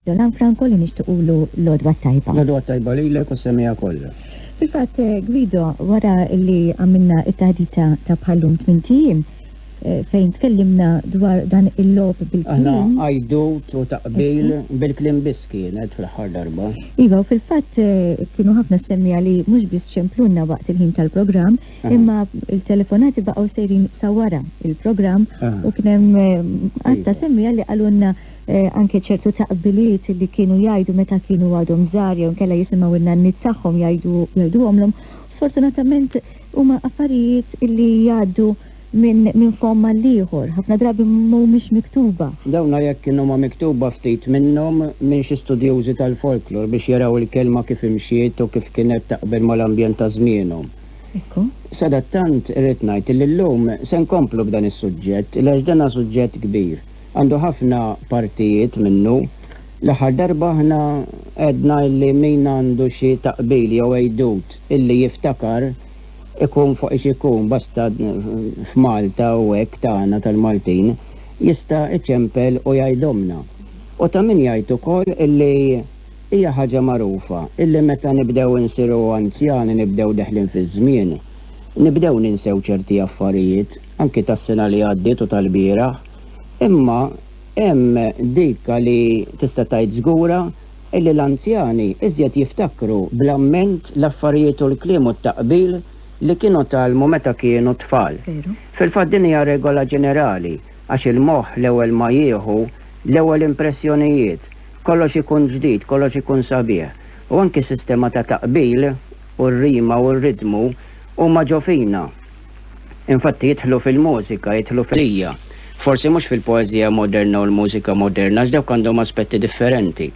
Roland Franco li nixtiqulu l-għodwa t-tajba. L-għodwa t-tajba lilek u s-semija kollha. Fil-fatt, eh, Guido, wara li għamilna it-taħdita ta' bħallum tmintijiem, Eh, fejn tkellimna dwar dan il-lob bil-klim. Aħna għajdu u taqbil bil-klim biskienet fl-ħar darba. Iva, fil-fat eh, kienu ħafna semmija li mux bis ċemplunna waqt il-ħin tal-program, imma il-telefonati baqaw sejrin sawara il-program u kienem eh, għatta semmija li għalunna Anke ċertu taqbiliet li kienu jgħidu meta kienu għadhom żgħar jew inkella jisimgħu n-nanniet tagħhom jgħiduhomlhom, sfortunatament huma affarijiet li jgħaddu minn fomm għall-ieħor, ħafna drabi mhumiex miktuba. Dawna jekk kinhuma miktuba ftit minnhom minn xi studjużi tal-folklor biex jaraw il-kelma kif imxiet u kif kienet taqbel mal-ambjent ta' żmienhom. Sadattant irrid ngħid li llum se nkomplu b'dan is-suġġett għax dan hu suġġett kbir. Għandu ħafna partijiet minnu. L-aħħar darba aħna għedna illi min għandu xi taqbil jew għidut illi jiftakar ikun fuq ix ikun, basta f'Malta u hekk tagħna tal-Maltin, jista' iċempel u jgħidhomlna. U ta' min jgħid ukoll illi hija ħaġa magħrufa illi meta nibdew insiru anzjani nibdew deħlin fiż-żmien, nibdew ninsew ċerti affarijiet. anki tas-sena li għaddiet u tal-bieraħ, imma hemm dik li tista' tgħid żgura illi l-anzjani iżjed jiftakru bl-amment l-affarijiet u l-kliem u t-taqbil li kienu tgħallmu meta kienu tfal. Fil-fatt din hija regola ġenerali għax il-moħħ l-ewwel ma jieħu l-ewwel impressjonijiet, kollox ikun ġdid, kollox ikun sabiħ. U anki s-sistema ta' taqbil u r-rima u r-ritmu huma ġo fina. Infatti jidħlu fil-mużika, jidħlu fil-poeżija. Forsi mhux fil-poeżija moderna u l-mużika moderna għax dawk għandhom aspetti differenti,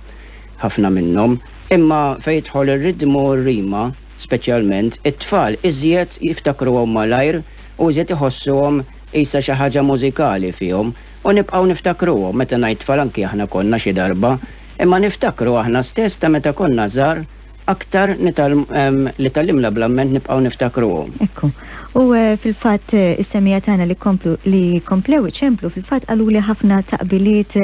ħafna minnhom. Imma fejn jidħol ir-ridmu u r-rima, speċjalment, it-tfal iżjed jiftakruhom malajr u iżjed iħossuhom qisha xi ħaġa mużikali fihom. U nibqgħu niftakruhom, meta ngħid tfal anki aħna konna xi darba, imma niftakru aħna stess ta' meta konna żgħar Aktar li tgħallimna bl-amment nibqgħu niftakruhom. Ekku. U fil-fatt is-semmiegħa tagħna li komplu li komplew iċemplu fil-fatt qaluli ħafna taqbiliet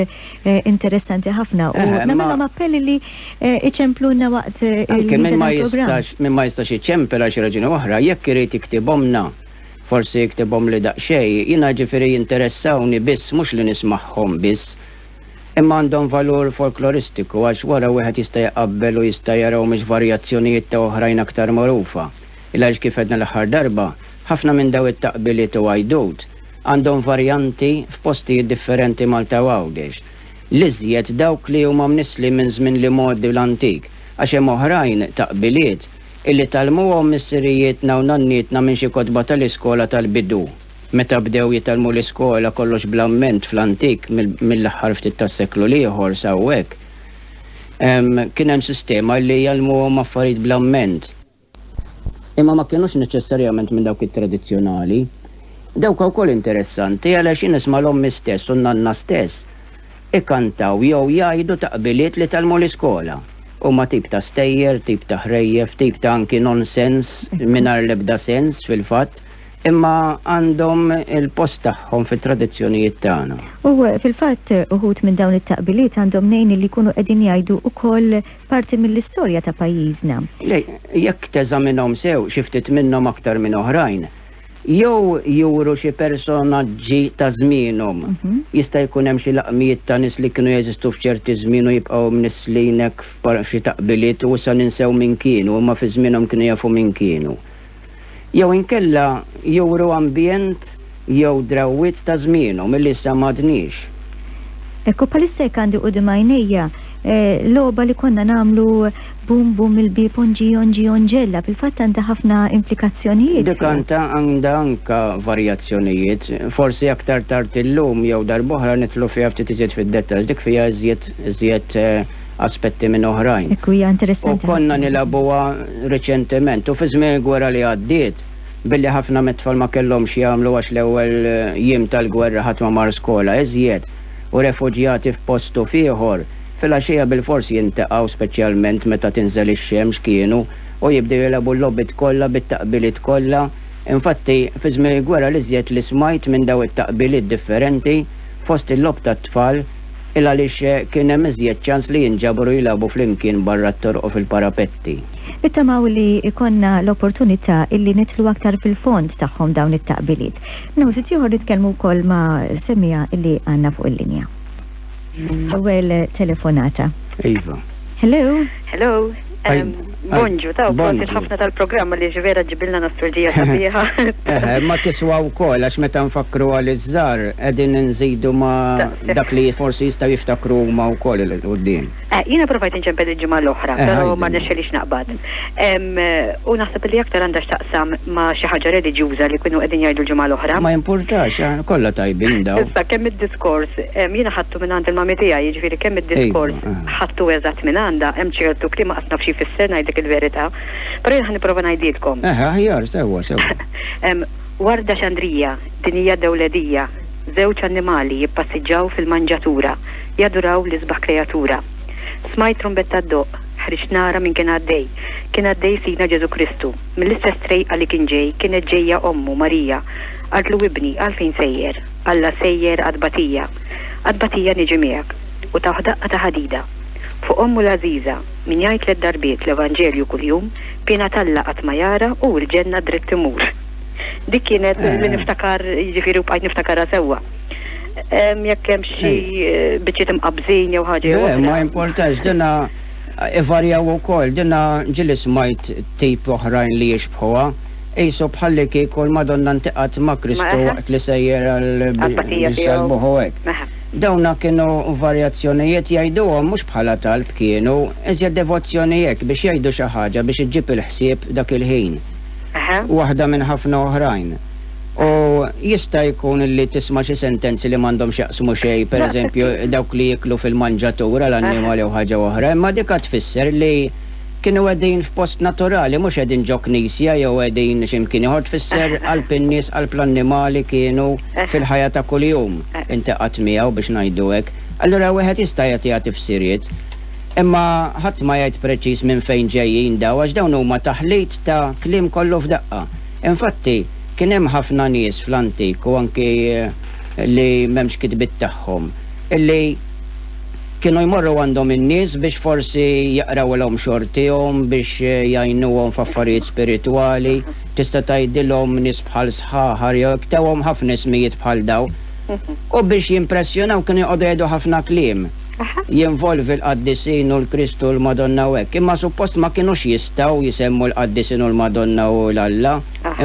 interessanti ħafna u nagħmilhom appelli li iċempluna waqt il-programm. Min ma jistax iċempel għal xi raġuni oħra, jekk irid iktibhomna, forsi iktibhomli daqsxejn, jiena ġifieri jinteressawni biss mhux li nismagħhom biss, imma għandhom valur folkloristiku għax wara wieħed jista' jqabbel u jista' jara humiex varjazzjonijiet ta' oħrajn aktar magħrufa. Il għaliex kif għedna l-aħħar darba, ħafna minn daw it-taqbiliet u għajdut għandhom varjanti f'postijiet differenti Malta u Għawdex. L-iżjed dawk li huma mnissli minn żmien l-imgħoddi u l-antik għax hemm oħrajn, taqbiliet, illi tgħallmuhom missirijietna u nannietna minn xi kotba tal-iskola tal-bidu. Meta bdew jitgħallmu l-iskola kollox bl-amment fl-antik mill-aħħar ftit tas-seklu l-ieħor s'hawnhekk, kien hemm sistema li jgħallmuhom affarijiet bl-amment. Imma ma kienux neċessarjament minn dawk it-tradizzjonali. Dawk wkoll interessanti għaliex jien nisma' l-ommi stess u n-nanna stess ikantaw jew jgħidu taqbiliet li tgħallmu l-iskola. Huma tip ta' stejjer, tip ta' ħrejjef, tip ta' anki nonsens mingħajr l-ebda sens fil-fatt. imma għandhom il-post tagħhom fit-tradizzjonijiet tagħna. U eh, fil-fatt eh, uħut minn dawn it-taqbiliet għandhom nejn li jkunu qegħdin jgħidu ukoll parti mill-istorja ta' pajjiżna. Jekk teżaminhom sew xi ftit minnhom aktar minn oħrajn, jew juru xi personaġġi ta' żmienhom. Mhm. Jista' jkun hemm xi laqmijiet ta' nies li kienu jeżistu f'ċerti żmien u jibqgħu mnisslinek f'xi taqbiliet u sa ninsew min kienu, imma fi żmienhom kienu jafu min kienu. jew inkella juru ambjent jew drawwiet ta' żmienhom illi issa m'għadniex. Hekk u bħalissa hekk għandi quddiem għajnejja logħba li konna nagħmlu Bum Bum il-Bieb Onġi Onġi Onġella, fil-fatt għandha ħafna implikazzjonijiet. Dik għandha għandha anke varjazzjonijiet. Forsi aktar tard illum jew darb'oħra nidħlu fiha ftit iżjed fid-dettall, dik fiha iżjed iżjed aspetti minn oħrajn. Ekku hija interessanti ħafna. U konna nilagħbuha riċentement u fi żmien il-gwerra li għaddiet billi ħafna mit-tfal ma kellhomx jagħmlu għax l-ewwel jiem tal-gwerra ħadd ma mar skola iżjed u refuġjati f'post u f'ieħor filgħaxija bilfors jintaqgħu speċjalment meta tinżel ix-xemx kienu u jibdew jilagħbu l-logħbiet kollha bit-taqbiliet kollha infatti fi żmien il-gwerra l-iżjed li smajt minn daw it-taqbiliet differenti fost il-logħob tat-tfal il għaliex kien hemm iżjed ċans li jinġabru jilagħbu flimkien barra t-toroq u fil-parapetti. Nittamaw li jkollna l-opportunità illi nidħlu aktar fil-fond tagħhom dawn it-taqbiliet. Minn hawn ftit ieħor nitkellmu wkoll ma' semmiegħa li għandna fuq il-linja. L-ewwel telefonata. Iva. Hello. Hello. Bonġu, ta' prosit ħafna tal-programm għaliex vera ġġibilna nostalġija sabiħa. Eħe, ma tiswa wkoll għax meta nfakkru għal iż-żgħar qegħdin inżidu ma dak li forsi jistgħu jiftakru huma wkoll il qudiem. Eh, jiena provajt inċempel il-ġimgħa l-oħra, eh, però ma nexxelix naqbad. U naħseb li aktar għandha x'taqsam ma xi ħaġa reliġjuża li kienu qegħdin jgħidu l-ġimgħa l-oħra. Ma jimpurtax, eh, kollha tajbin daw. Issa kemm id-diskors jiena ħadd ħadtu minn għand il-mami tiegħi, jiġifieri kemm id-diskors ħadtu eżatt minn għandha, hemm ċertu kliem ma qas naf x'jfisser ngħidlek il-verità, però jien ħa nipprova ngħidilkom. Eħe, aħjar, sewwa, sewwa. Hemm warda xandrija, dinija dewledija, żewġ annimali jippassiġġaw fil-manġatura, jaduraw l-isbaħ kreatura. Smajt trumbetta ddoqq, ħriġt nara min kien għaddej. Kien għaddej Sidna Ġesu Kristu, mill-istess trejqa li kien ġej kienet ġejja ommu Marija. Qaltlu ibni għalfejn sejjer? Alla sejjer għad batija. Għat-tbatija niġi miegħek, u tawh daqqa ta' ħadida. Fuq ommu l-għażiża, min jgħid tliet darbiet l-Evanġelju kuljum, piena t'Alla qatt ma jara u l-ġenna dritt imur. Dik kienet li niftakar, jiġifieri u bqajt niftakarha sewwa. Jekk hemm xi biċċiet imqabbżin jew ħaġa jew oħra. Ma jimpurtax, dinha ivarjaw ukoll, dinha ġieli smajt tip oħrajn li jixbħuha. Qisu bħallikieku l-Madonna ntiqgħet ma' Kristu waqt li sejjer għall-salbuh u hekk. Dawna kienu varjazzjonijiet jgħiduhom mhux bħala talb kienu, iżjed devozzjoni hekk biex jgħidu xi ħaġa biex iġġib il-ħsieb dak il-ħin. Waħda minn ħafna oħrajn. U jista' jkun li tisma' xi sentenzi li m'għandhom x'jaqsmu xejn, pereżempju dawk li jieklu fil-manġatur għal annimali jew ħaġa oħra, imma dik għad tfisser li, Kienu qegħdin f'post naturali, mhux qegħdin ġo knisja jew qegħdin xi mkien ieħor, tfisser qalb in-nies, qalb l-annimali kienu fil-ħajja ta' kuljum intaqgħet miegħu biex ngħidu hekk. Allura wieħed jista' jagħtiha tifsiriet, imma ħadd ma jgħid preċiż minn fejn ġejjin dawn għax dawn huma taħlit ta' kliem kollu f'daqqa. Infatti, kien hemm ħafna nies fl-antik u anki li m'hemmx kitbiet tagħhom, illi, Kienu jmorru għandhom in-nies biex forsi jaqrawilhom xortihom, biex jgħinuhom f'affarijiet spiritwali. Tista' tgħidilhom nies bħal sħaħar jew hekk, tawhom ħafna ismijiet bħal dawn. U biex jimpressjonaw kienu joqogħdu jgħidu ħafna kliem. Jinvolvi l-qaddisin u l-Kristu u l-Madonna u hekk. Imma suppost ma kinux jistgħu jsemmu l-qaddisin u l-Madonna u 'l Alla.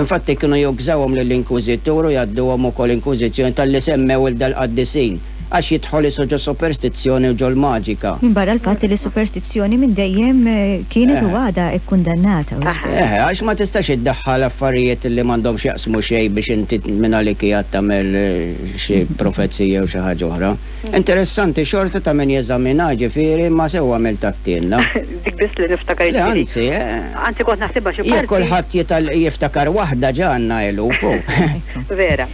Infatti kienu jukżawhom lill-inkwiżitur u jgħadduhom ukoll inkwiżizzjoni talli semmew 'l dal-qaddisin. għax jidħol isu ġo superstizzjoni u ġol-maġika. Minbarra l-fatt li s-superstizzjoni minn dejjem kienet u għadha kkundannata. Eħe, għax ma tistax iddaħħal affarijiet li m'għandhom x'jaqsmu xejn biex inti minn għalik qiegħed tagħmel xi profezija jew xi ħaġa oħra. Interessanti xorta ta' min jeżaminha, jiġifieri ma sew għamilt għattielna. Dik biss li niftakar jiġifieri. Le anzi, eh. Anzi kont naħsibha xi parti. Jekk kulħadd jiftakar waħda ġa għandna eluf. Vera.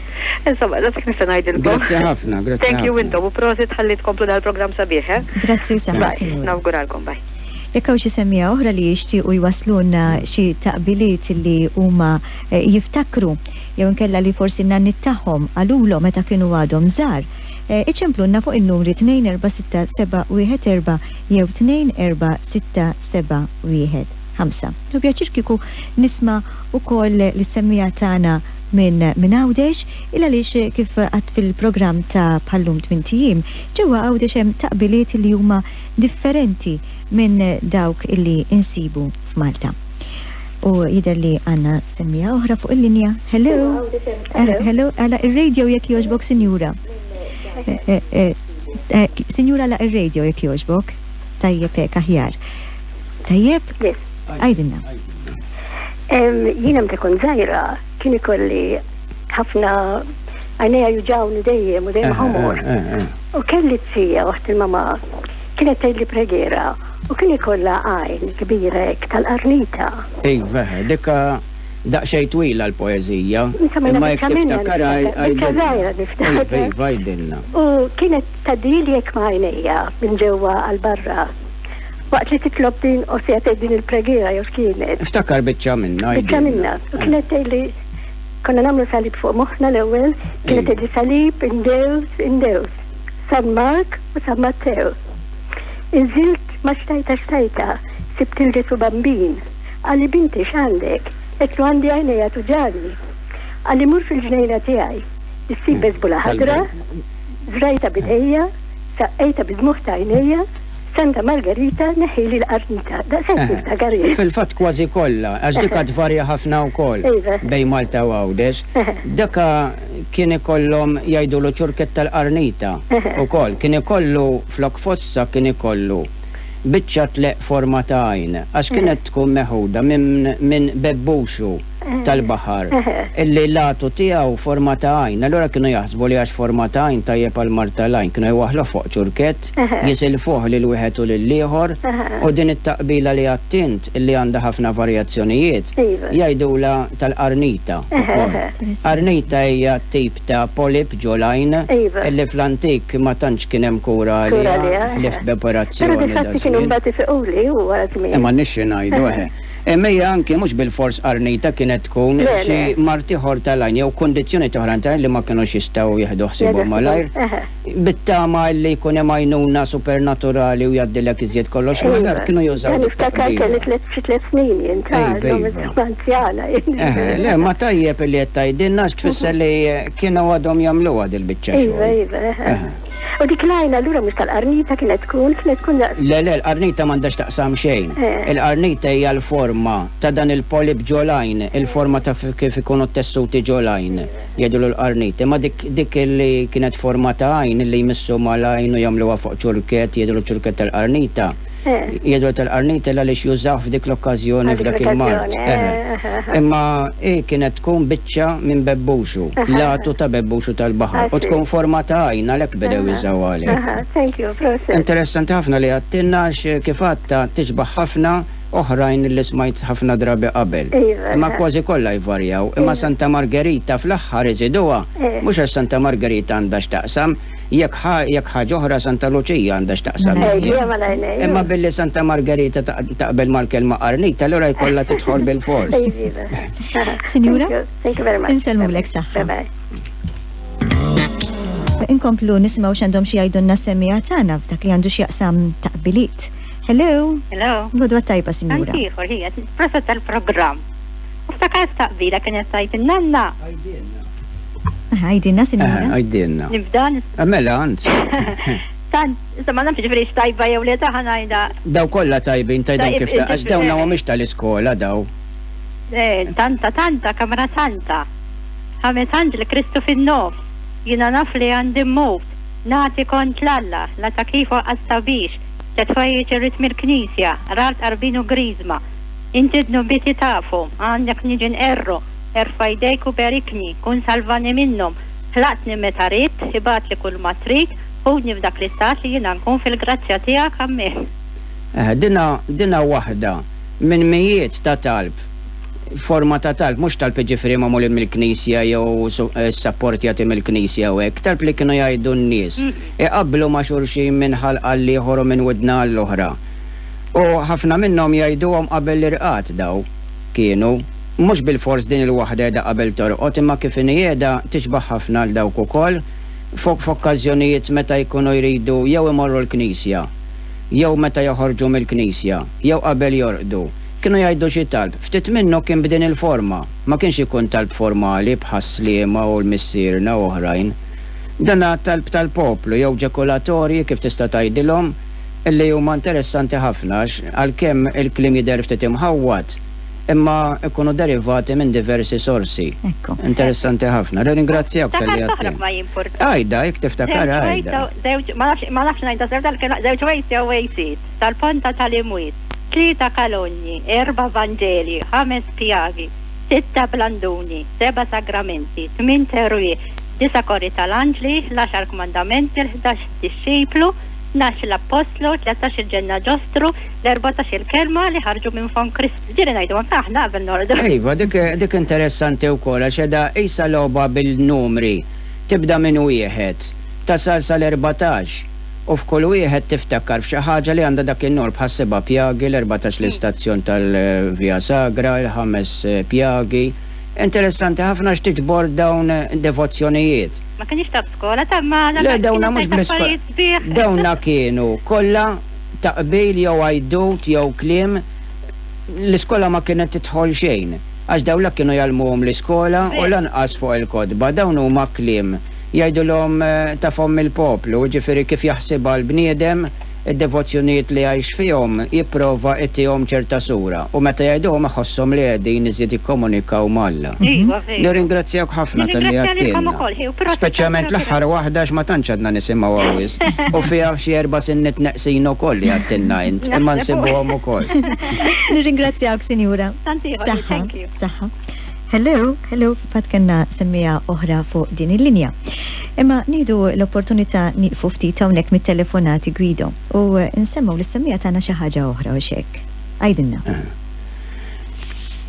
Insomma, da dak nista' ngħidilkom. Grazzi ħafna, grazzi. Thank you intom u prosit ħalli tkomplu dal-programm sabiħ, eh? Grazzi u saħħa. Nawguralkom, bye. Jekk hawn xi semmija oħra li jixtiequ jwaslulna xi taqbiliet li huma eh, jiftakru jew inkella li forsi n-nanni tagħhom għalulhom meta kienu għadhom żgħar, eh, iċemplunna fuq in-numri 24674 jew 24675. Nubjaċir kiku nisma' ukoll l-semmija tagħna minn minn Għawdex il għaliex kif għadt fil-programm ta' bħal-lum tmint ijiem, ġewwa Għawdex hemm taqbiliet illi huma differenti minn dawk illi insibu f'Malta. U jidher li għandna semmiegħa oħra fuq il-linja. Hello? Hello? Għalaq ir-radio jekk jogħġbok sinjura. Sinjura għalaq ir-radio jekk jogħġbok. Tajjeb hekk aħjar. Tajjeb? Għidilna. Jiena meta kont żgħira kien ikolli ħafna għajnejja juġawni dejjem u dejjem ħomor. Eh, eh, eh, u kelli t-tija waħt il-mama kienet tgħidli pregera u kien ikollha għajn kbira hekk tal-qarnita. Iva, dikka daqsxejn twila l-poeżija. Imma jekk tiftakar għajdilna. U kienet tadili jekk ma' għajnejja minn ġewwa għal barra. Waqt li titlob din u se tgħid din il-preghiera jew x'kienet. Iftakar biċċa minnha. Biċċa minnha. U kienet tgħidli konna nagħmlu salib fuq moħħna l-ewwel, kienet tgħidli salib indews, indews. San Mark u San Mattew. Inżilt ma xtajta xtajta, sibt il-Ġesu bambin. Qalli binti x'għandek? Qedtlu għandi għajnejja tuġani. Qalli mur fil-ġnejna tiegħi. Issib beżbula ħadra, żrajta b'idejja, saqqejta bi dmugħ ta' għajnejja, Santa Margarita neħħili l-qarnita. Daqshekk jien ta' Garried. Fil-fatt kważi kollha, għax dik ha tvarja ħafna wkoll bejn Malta u Għawdex. Dak ha kien ikollhom jgħidulu ċurkett tal-qarnita wkoll. Kien ikollu flok fossa kien ikollu biċċa tleq forma ta' għajn għax kienet tkun meħuda minn bebbuxu tal-baħar illi l-għatu tiegħu forma ta' għajn. Allura kienu jaħsbu li għax forma ta' għajn tajjeb għall-mard tal-għajn kienu jwaħħluh fuq ċurkett. jisilfuh lil wieħed u lill-ieħor u din it-taqbila li għedt int li għandha ħafna varjazzjonijiet jgħidulha tal-qarnita wkoll. Qarnita hija tip ta' polip ġo l-għajn li fl-antik ma tantx kien hemm kura għaliha ħlief b'operazzjoni ta' żmien. Eh m'għandniex xi ngħidu eh. Imma hija anki mhux bilfors qarnita kienet tkun xi mard ieħor tal-għajn jew kundizzjonijiet oħrajn tal-għajn li ma kinux jistgħu jieħdu ħsiebhom malajr. Bit-tama illi jkun hemm għajnuna supernaturali u jgħaddilek iżjed kollox. Imma nara kienu jużaw. Iva, niftakar kelli tliet xi tliet snin jien ta' għandhom anzjana. Le, ma tajjeb illi qed tgħidilna għax tfisser li kienu għadhom jagħmluha dil-biċċa xogħol. Iva, iva. U dik l-għajna allura mhux tal-qarnita kienet tkun, kienet tkun daqs. Le, le, l-qarnita m'għandhax taqsam xejn. Il-qarnita hija l-forma ta' dan il-polip ġol-għajn, il-forma ta' kif ikunu t-tessuti ġol-għajn. Jgħidulu l-qarnit. Imma dik, dik li kienet forma ta' għajn, illi jmissu mal-għajn u jagħmluha fuq ċurkett, jgħidulu ċurkett tal-qarnita. Jgħidulu tal-qarnita l-għaliex jużah f'dik l-okkażjoni, f'dak il-mard. Eħe. Imma hi kienet tkun biċċa minn bebbuxu, l-għatu ta' bebbuxu tal-baħar, u tkun forma ta' għajn, għalhekk bedew jużawha għalhekk. Aha, thank you, proset. Interessanti ħafna li għadtilna għax kif għadtha tixbaħ ħafna oħrajn li smajt ħafna drabi qabel. Imma kważi kollha jvarjaw. Imma Santa Margerita fl-aħħar iżiduha, mhux għax Santa Margerita għandha x'taqsam, jekk ħa jekk ħaġa oħra Santa Luċija għandha x'taqsam iżjed. Imma billi Santa Margerita taqbel mal-kelma qarnita allura jkollha tidħol bilfors. Sinjura, insellmulek saħħa. Inkomplu nisimgħu x'għandhom xi jgħidulna s-semmiegħa tagħna f'dak li għandu x'jaqsam taqbiliet. Hello. Hello. Lodwa tajba, sinjura. Ħantiħor, hija, proset tal-programm. U ftakart taqbila kien qed tgħid in-nanna. Għajdinna, sinjura. Għajdinna. Nibda. Mela, anzi. Tant, insomma, nafx ġifri xtajba jew li taħan għajda. Daw kolla tajbin, tajda kif ta' għax dawna u mux tal-iskola daw. Eh, tanta, tanta, kamra tanta. Ħames anġli Kristu fin-nof, jina naf li għandi mut, nati kont l-alla, la ta' kifu għastabix, T-tfajjiċ irrid mill-Knisja, ra l-Qarbin u Griżma. Inti d-dnubiti tafhom, għandek niġi nqerru, erfa' jdejk u berikni, kun salvani minnhom. Ħlaqtni meta ridt, ibgħatli kulma trid, ħudni f'dak l-istat li jiena nkun fil-grazzja tiegħek. Ammen. Dinha, dinha waħda minn mijiet ta' talb, forma ta' talb, mhux talb jiġifieri magħmulin mill-Knisja jew s-sapportjati mill-Knisja u hekk, talb li kienu jgħidu n-nies. iqabblu ma' xulxin minn ħalq għal ieħor u minn widna għall-oħra. U ħafna minnhom jgħiduhom qabel l-irqad daw, kienu. Mhux bilfors din il-waħda qiegħda qabel torqod imma kif inhi qiegħda tixbah ħafna għal dawk ukoll fuq f'okkażjonijiet meta jkunu jridu jew imorru l-knisja jew meta joħorġu mill-knisja jew qabel jorqdu. Kienu jgħidu xi talb. Ftit minnu kien b'din il-forma. Ma kienx ikun talb formali bħas-Sliema u l-Missierna u oħrajn. Dan għat-talb tal-poplu jew ġekulatorji kif tista' tgħidilhom, li huma interessanti ħafna għax għalkemm il-kliem jidher ftit imħawwad, imma jkunu derivati minn diversi sorsi. Ekku. Interessanti ħafna. Nirringrazzjawk talli Ftakart oħra għedtni. ma jimpurtax. Għidha, jekk tiftakar Żewġ ways għidha. jew żewġ ma nafx ma nafx ngħidha sew dal-kelma żewġ ways jew wejsiet, tal-ponta tal-imwiet, tlieta kalogni, erba' vanġelji, ħames pjagi, sitta blanduni, seba' sagramenti, tmien terwieħ, disa' kori tal-anġli, l-għaxar kmandamenti, l-ħdax dixxiplu, tnax l-appostlu, tlettax il-ġenna ġostru, l-erbatax il-kelma li ħarġu minn fom Kristu. Ġieli ngħidu anke aħna qabel norqdu. Iva, dik dik interessanti wkoll għax qiegħda qisha logħba bil-numri. Tibda minn wieħed, tasal sal-erbatax. U f'kull wieħed tiftakkar f'xi ħaġa li għandha dak in-nur, bħas-seba' pjagi, l-erbatax l-istazzjon tal-Via Sagra, il-ħames pjagi. Interessanti ħafna x'tiġbor dawn devozzjonijiet. Ma kenniex ta' b'skola ta' Malha, Le, dawna mhux bl-iskola. Kienet affarijiet sbieħ. Dawna kienu kollha ta' qbil jew għajdut jew kliem. L-iskola ma kienet tidħol xejn, għax dawn la kienu jgħallmuhom l-iskola u lanqas fuq il-kotba. Dawn huma kliem. Jgħidulhom ta' fomm il-poplu, jiġifieri kif jaħsibha l-bniedem, id-devozzjonijiet li jgħix fihom, jipprova jtihom ċerta sura, u meta jgħiduhom iħosshom li qegħdin iżjed jikkomunikaw ma' Alla. Nirringrazzjawk ħafna talli għedtilna. Speċjalment l-aħħar waħda għax ma tantx għadna nisimgħuha wisq, u fiha xi erba' sinniet neqsin ukoll li għedtilna int, imma nsibuhom ukoll. Nirringrazzjawk Sinjura. Saħħa. Saħħa. Hello. Hello. F'għad kellna semmiegħa oħra fuq din il-linja. Imma nieħdu l-opportunità nieqfu ftit hawnhekk mit-telefonati Guido u nsemmgħu lis-semmiegħa tagħna xi ħaġa oħra hux hekk? Għidilna.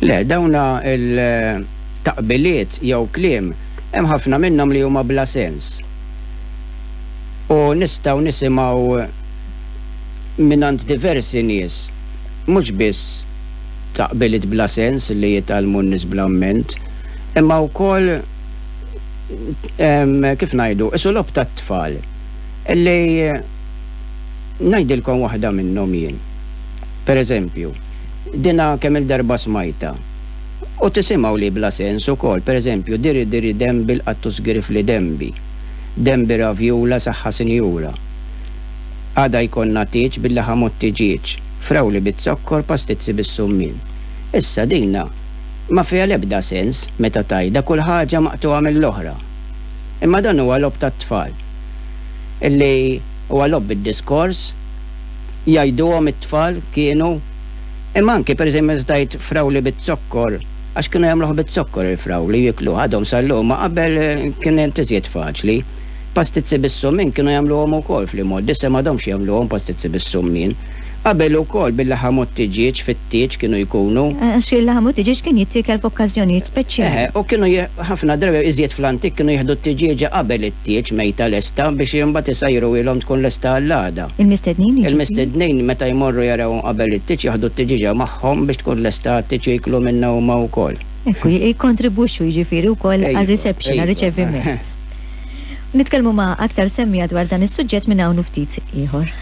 Le, dawn il-taqbiliet jew kliem hemm ħafna minnhom li huma bla sens. U nistgħu nisimgħu mingħand diversi nies, mhux biss ta' qbiliet bla sens li jitgħallmu n-nies bla mment, imma wkoll, kif ngħidu, qisu logħob tat-tfal, li ngħidilkom waħda minnhom jien, per eżempju, dinha kemm-il darba smajtha, u tisimgħu li bla sens ukoll, per eżempju, diri diri dembi l-qattu żgirifli dembi, dembi ravjula saħħa sinjura, għada jkollna tieġ bil-laħam u t-tiġieġ. frawli biz-zokkor, pastizzi bis-summien. Issa dinha ma fiha l-ebda sens meta tgħidha kull ħaġa maqtugħa mill-oħra. Imma dan huwa logħob tat-tfal. Illi huwa logħob bid-diskors, jgħiduhom it-tfal, kienu. Imma anki per eżempju meta tgħid frawli biz-zokkor, għax kienu jagħmluh biz-zokkor il-frawli u jiekluh, għadhom sal-lum, ma qabel kienet iżjed faċli. Pastizzi bis-summin kienu jagħmluhom ukoll fl-imgħoddi, issa m'għadhomx jagħmluhom pastizzi bis-summin. Qabel ukoll bil-laħam u t-tiġieġ fit-tieġ kienu jkunu. Għax il-laħam u t-tiġieġ kien jittiekel f'okkażjonijiet speċjali. Eħe, u kienu ħafna drabi, iżjed fl-antik, kienu jieħdu t-tiġieġa qabel it-tieġ mejta lesta biex imbagħad isajruhielhom tkun lesta għall-għada. Il-mistednin, jiġifieri. Il-mistednin meta jmorru jarawhom qabel it-tieġ jaħdu t-tiġieġa magħhom biex tkun lesta għat-tieġ u jiklu minnha huma wkoll. Ekku, jikkontribwixxu jiġifieri wkoll għar-reception, għar-riċeviment. Nitkellmu ma' aktar semmiegħa dwar dan is-suġġett minn hawn u ftit ieħor.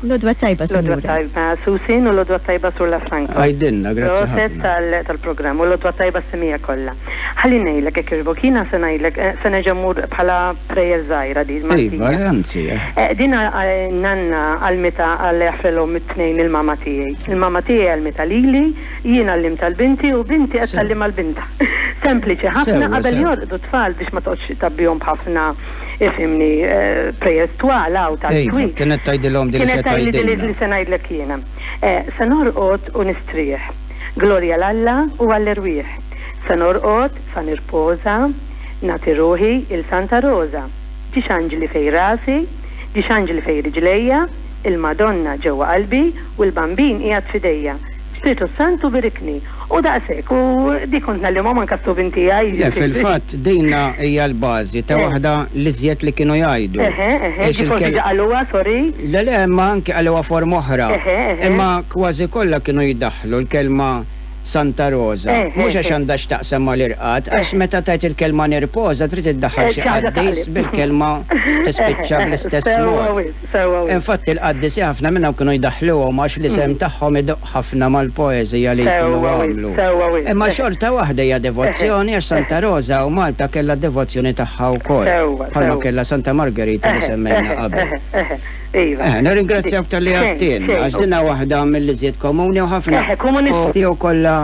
L-odwa tajba, Sinjura. L-odwa tajba, Susin, u l-odwa tajba sur La Franco. Għajdinna, grazzi ħafna. tal-programm, u l-odwa tajba s-semija kollha. Ħalli ngħidlek hekk iġbok, jiena se ngħidlek, eh, se nerġa' mmur bħala prayer żgħira di Iva, anzi. Eh. Eh, din nanna għal-mita għal-ħfrelhom it-tnejn il-mama tiegħi. Il-mama tiegħi għal-mita lili, Jien għallimtha 'l binti u binti qed tgħallimha 'l bintha. Sempliċi ħafna qabel jorqdu t-tfal biex ma toqgħodx tgħabbihom b'ħafna, ifhimni, prayers twal hawn tal-iswit. Kienet tgħidilhom din li se tgħidilna. Kienet tgħidli din li se ngħidlek jiena. Se norqod u nistrieħ. Glorja 'l Alla u għall-erwieħ. Se norqod, sa nirpoża, nagħti ruħi 'il Santa Roża. Ġiex anġli fejn rasi, ġiex anġli fejn riġlejja, il-Madonna ġewwa qalbi u l-Bambin qiegħed f'idejja. Spiritu s-Santu birikni. U daqs hekk, u dik kont ngħallimhom anke s-subin tiegħi. Le, fil-fatt, dina hija l-bażi ta' waħda l-iżjed li kienu jgħidu. Eħe, eħe, ġieli forsi ġa qaluha, sorry. Le, le, imma anke qaluha forma oħra. Eħe, eħe. Imma kważi kollha kienu jdaħħlu l-kelma Santa Roża. Eħe, eħe. Mhux għax għandha x'taqsam mal-irqad, għax meta tgħid il-kelma nirpoża trid iddaħħal xi qaddis bil-kelma tispiċċa bl-istess mod. Infatti l-qaddisi ħafna minnhom kienu jdaħħluhom għax l-isem tagħhom idoqq ħafna mal-poeżija li jkunu għamlu. Imma xorta waħda hija devozzjoni għax Santa Roża u Malta kellha d-devozzjoni tagħha wkoll, bħalma kellha Santa Margerita li semmejna qabel. Nirringrazzjawk talli għidtilna għax din hi waħda mill-iżjed komuni u ħafna jew kollha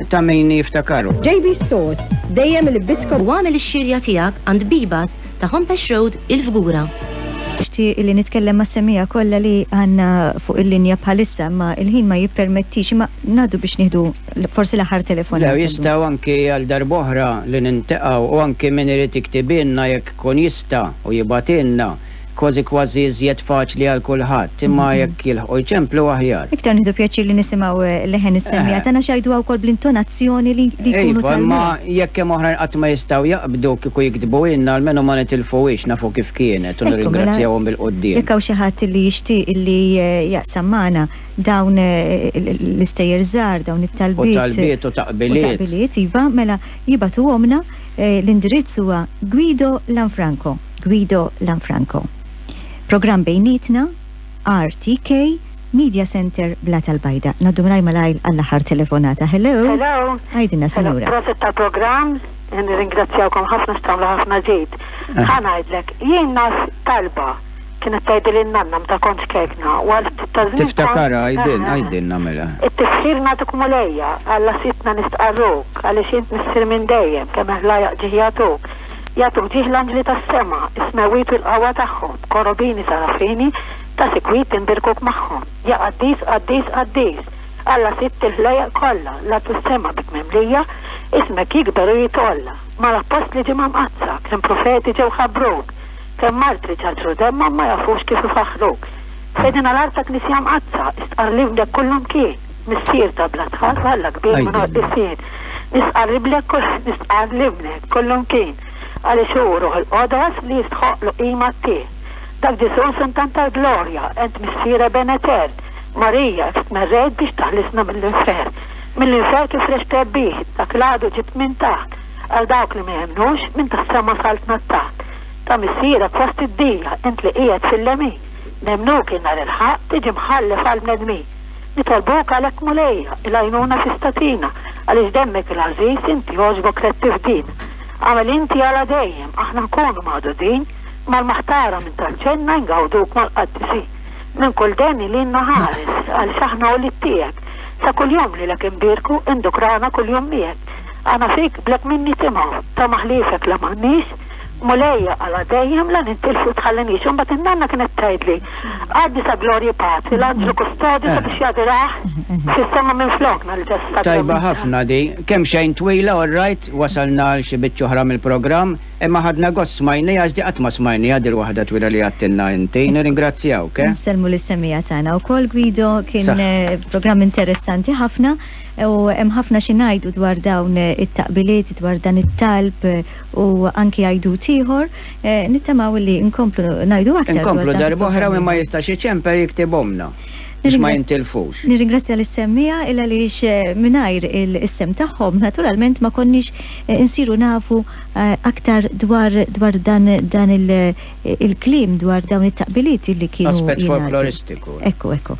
ta' min jiftakarhom. JB Stores, dejjem il-biskot. U agħmel ix-xirja tiegħek għand Bibas Ta' Homepesh Road, il-Fgura. Nixtieq li nitkellem mas-semmiegħa kollha li għandna fuq il-linja bħalissa imma l-ħin ma jippermettix imma ngħaddu biex nieħdu forsi l-aħħar telefonata llum. Le, jistgħu anki għal darb'oħra li nintaqgħu u anki min irid iktibilna jekk ikun jista' u jibgħatilna, kważi kważi iżjed faċli għal kulħadd, imma jekk. jilħqu jċemplu aħjar. Iktar nieħdu pjaċir li nisimgħu leħen is-semmiegħa tagħna x'jgħiduha wkoll bl-intonazzjoni li jkunu tal-mela. Iva, imma jekk hemm oħrajn qatt ma jistgħu jaqbdu kieku jiktbuhielna almenu ma nitilfuhiex nafu kif kienet u nirringrazzjawhom bil-quddiem. Jekk hawn xi ħadd li jixtieq li jaqsam magħna dawn l-istejjer żgħar, dawn it-talbiet. U talbiet u taqbiliet. U taqbiliet, iva, mela jibgħatuhomlna l-indirizz huwa Guido Lanfranco, Guido Lanfranco. Programm bejnietna. RTK Media Centre Blat al-Bajda. Ngħaddu malajr malajr għall-aħħar telefonata. Hello. Hello. Għidilna sinjura. Prosit tal-programm, nirringrazzjawkom ħafna x'tagħmlu ħafna ġid. Eh. Ħa ngħidlek, jien nas talba kienet tgħidli n-nanna mta kont kekna. Tiftakara għajdin, għajdin namela. It-tifħir natuk mulejja, għalla sitna nistqarruk, għaliex int missir minn dejjem, kemm ħlajaq ġiħjatuk. Jagħtu mdieħ l-anġli tas-sema, is-smewwiet u l-qawwa tagħhom, korobini, sarafini, ta' sikwit tinbirkuk magħhom, Ja qaddis, qaddis, qaddis, Alla Sitt il-ħlejjaq kollha, l-art u s-sema bik mimlija, ismek jikber u jitgħolla. Mal-appostli ġie mamqaddsa, kemm profeti ġew ħabbruk, kemm martri ċaċru demmhom ma jafux kif ifaħħruk. F'edina l-arta Knisja Mqaddsa, istqarr li fdek kullimkien. Missier ta' bla tħal f'Alla kbir minn qoddisien, nistqarr ibnek kol kif nistqarr l-ibnek kollumkien, għaliex hu Ruħ il-Qodos li jistħoqqlu qima t-T. Dak Ġesu' Sun tant tal-glorja, ent Missier eben etern, Marija kif tmerrejt biex taħlisna mill-infern, mill-infern kif reġt trebbih, dak l-għadu ġibt minn taħt, għal dawk li ma jemmnux, minn tas-sema saltna t-taħt, ta' Missierek fost id-dija, int li qiegħed fil-lemin, nemmnuk in-nhar il-Ħaqq, tiġi mħallef għall-bnedmin. Nitolbuk għalhekk Mulejja, il-għajnuna tista' tina, għaliex demmek il-għażiż, inti għoġbok rettif din. Agħmel inti għala dejjem, aħna nkunu magħdudin, mal-maħtara minn tant ġenna ingawduk mal-qaddisin. Minn kull deni lilna ħares, għaliex aħna ulied tiegħek, sa kuljum lilek inbierku, indukrana kuljum miegħek. Aħna fik blek min nitimgħu, tama ħliefek la m'għandniex, Mulejja, għala dejjem la nintilfu tħallinix. Imbagħad in-nanna kienet tgħidli, Għaddi sa glorja Patri, l-anġlu kustodju sabiex jadurah fis-sema minflokna, l-ġessagrament. Tajba ħafna di. Kemm xejn twila, all right, wasalna għal xi biċċa oħra mill-programm, imma ħadna gost smajniha għax di qatt ma smajniha di l-waħda twila li għadtilna inti. Nirringrazzjawk, eh? Insellmu lis-semmiegħa tagħna wkoll, Guido, kien programm interessanti ħafna u hemm ħafna xi ngħidu dwar dawn it-taqbiliet, dwar dan it-talb u anki għajdut ieħor, nittamaw illi nkomplu ngħidu aktar. Inkomplu darb'oħra u min ma jistax iċemper jiktib omna biex ma jintilfux. Nirringrazzja lis-semmiegħa il għaliex eh, mingħajr il-isem tagħhom naturalment ma konniex eh, insiru nafu eh, aktar dwar dwar dan dan il-klim dwar dawn it-taqbiliet li kienu. Aspett folkloristiku. Ekku, ekku.